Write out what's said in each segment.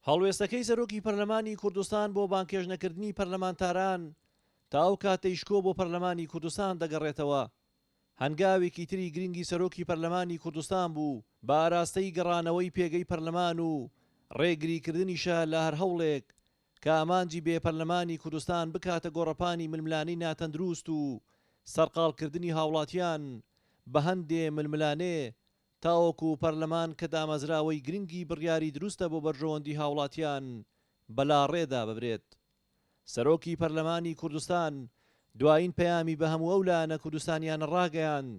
هەڵوێستەکەی سەرۆکی پەرلەمانی کوردستان بۆ بانگهێشتنەکردنی پەرلەمانتاران تا ئەو کاتەی شکۆ بۆ پەرلەمانی کوردستان دەگەڕێتەوە، هەنگاوێکی تری گرنگی سەرۆکی پەرلەمانی کوردستان بوو بە ئاراستەی گەڕانەوەی پێگەی پەرلەمان و ڕێگریکردنیشە لە هەر هەوڵێک کە ئامانجی بێ پەرلەمانی کوردستان بکاتە گۆڕەپانی ململانێی ناتەندروست و سەرقاڵکردنی هاوڵاتیان بە هەندێ ململانێ تاوەکو پەرلەمان کە دامەزراوەی گرنگی بڕیاری دروستە بۆ بەرژەوەندی هاوڵاتیان بەلاڕێدا ببرێت. سەرۆکی پەرلەمانی کوردستان دوایین پەیامی بە هەموو ئەو لایەنە کوردستانیانە ڕاگەیاند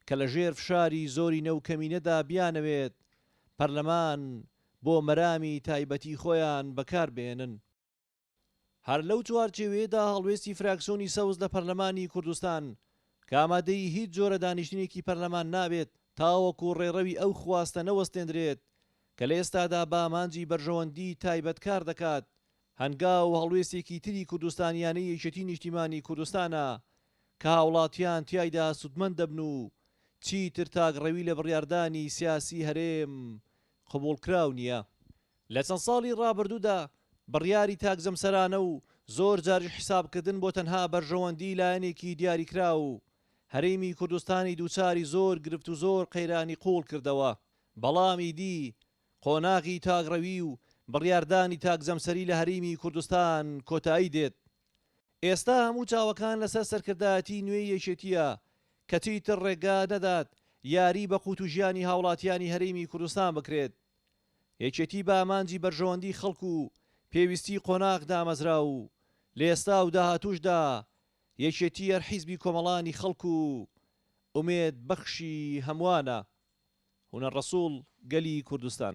کە لە ژێر فشاری زۆرینە و کەمینەدا بیانەوێت پەرلەمان بۆ مەرامی تایبەتی خۆیان بەکاربهێنن. هەر لەو چوارچێوەیەدا هەڵوێستی فراکسیۆنی سەوز لە پەرلەمانی کوردستان کە ئامادەی هیچ جۆرە دانیشتنێکی پەرلەمان نابێت تاوەکو ڕێڕەوی ئەو خواستە نەوەستێندرێت کە لە ئێستادا بە ئامانجی بەرژەوەندی تایبەت کار دەکات هەنگاو و هەڵوێستێکی تری کوردستانیانەی یەکێتی نیشتیمانی کوردستانە کە هاوڵاتیان تیایدا سودمەند دەبن و چیتر تاکڕەوی لە بڕیاردانی سیاسی هەرێم قبوڵکراو نییە. لە چەند ساڵی ڕابردوودا بڕیاری تاک جەمسەرانە و زۆر جاریش حیسابکردن بۆ تەنها بەرژەوەندیی لایەنێکی دیاریکراو، هەرێمی کوردستانی دووچاری زۆر گرفت و زۆر قەیرانی قووڵ کردەوە. بەڵام ئیدی قۆناغی تاکڕەوی و بڕیاردانی تاک جەمسەری لە هەرێمی کوردستان کۆتایی دێت. ئێستا هەموو چاوەکان لەسەر سەرکردایەتیی نوێی یەکێتییە کە چیتر ڕێگا نەدات یاریی بە قووت و ژیانی هاوڵاتیانی هەرێمی کوردستان بکرێت. یەکێتی بە ئامانجی بەرژەوەندی خەڵک و پێویستی قۆناغ دامەزرا و لە ئێستا و داهاتووشدا یەکێتی هەر حیزبی کۆمەڵانی خەڵک و ئومێد بەخشی هەموانە. هونەر ڕەسوڵ، گەلی کوردستان.